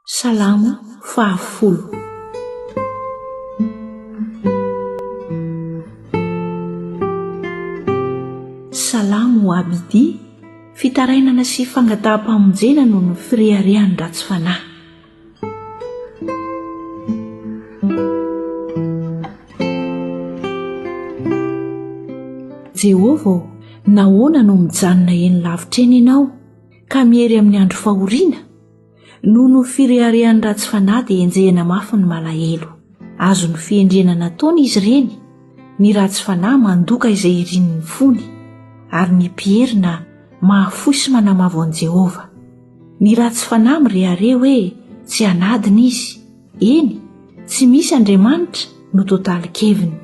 Salamo fahafolo. Salamo ho Abidi, fitarainana sy fangataham-pamonjena noho ny fireharehan'ny ratsy fanahy. Jehovah ô, nahoana no mijanona eny lavitra eny ianao, ka miery amin'ny andro fahoriana? Noho ny fireharehan'ny ratsy fanahy dia enjehina mafy ny malahelo. Azon'ny fihendrena nataony izy ireny. Ny ratsy fanahy mandoka izay irin'ny fony, ary ny mpierina mahafoy sy manamavo an'i Jehovah. Ny ratsy fanahy mirehareha hoe tsy anadiny izy, eny, tsy misy Andriamanitra no totalin-keviny.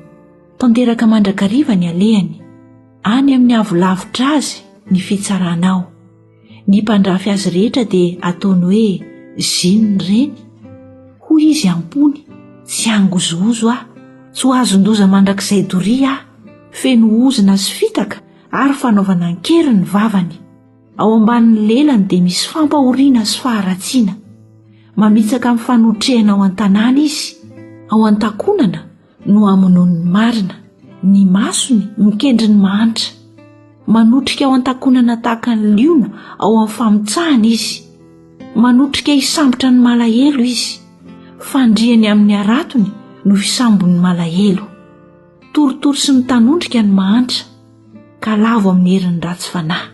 Tanteraka mandrakariva ny alehany. Any amin'ny avo lavitra azy ny fitsaranao. Ny mpandrafy azy rehetra dia ataony hoe Zin ireny. Hoy izy am-pony, Tsy hangozohozo aho, tsy ho azon-doza mandrakizay doria aho. Feno ozona sy fitaka ary fanaovana an-kery ny vavany. Ao ambanin'ny lelany dia misy fampahoriana sy faharatsiana. Mamitsaka amin'ny fanotrehana ao an-tanàna izy, ao an-takonana, no hamonoan'ny marina ny masony mikendry ny mahantra manotrika ao an-takonana tahaka ny liona ao amin'ny famotsahana izy manotrika hisambotra ny malahelo izy fandriany amin'ny aratony no hisambon'ny malahelo torotoro sy mitanondrika ny mahantra ka lavo amin'ny herin'ny ratsy fanahy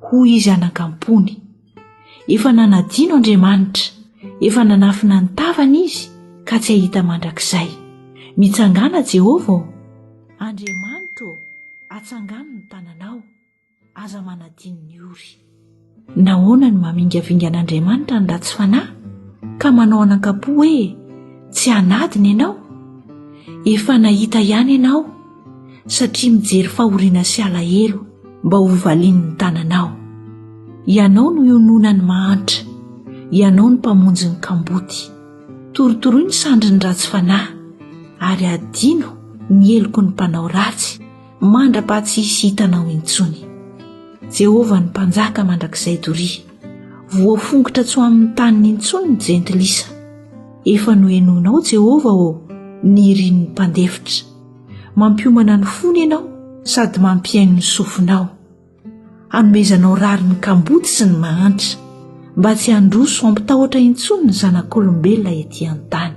hoy izy anakampony Efa nanadino Andriamanitra, efa nanafina ny tavany izy ka tsy hahita mandrakizay. Mitsangàna Jehovah ô! Andriamanitra ô, atsangano ny tananao, aza manadino ny ory. Nahoana no mamingavinga an'Andriamanitra ny ratsy fanahy, ka manao an'ankapo hoe tsy hanadina ianao? Efa nahita ihany ianao satria mijery fahoriana sy alahelo mba ho valian'ny tananao. Ianao no iononan'ny mahantra, ianao no mpamonjy ny kamboty. Torotoroy ny sandrin'ny ratsy fanahy ary adino ny heloky ny mpanao ratsy mandra-paha tsy hisy hitanao intsony. Jehovah ny mpanjaka mandrakizay doria. Voafongotra tsy ho amin'ny taniny intsony ny jentilisa. Efa nohenoinao Jehovah ô, ny irin'ny mpandefitra. Mampiomana ny fony ianao sady mampihaino ny sofinao. Hanomezanao rariny ny kamboty sy ny mahantra, mba tsy handroso hampitahotra intsony ny zanak'olombelona ety an-tany.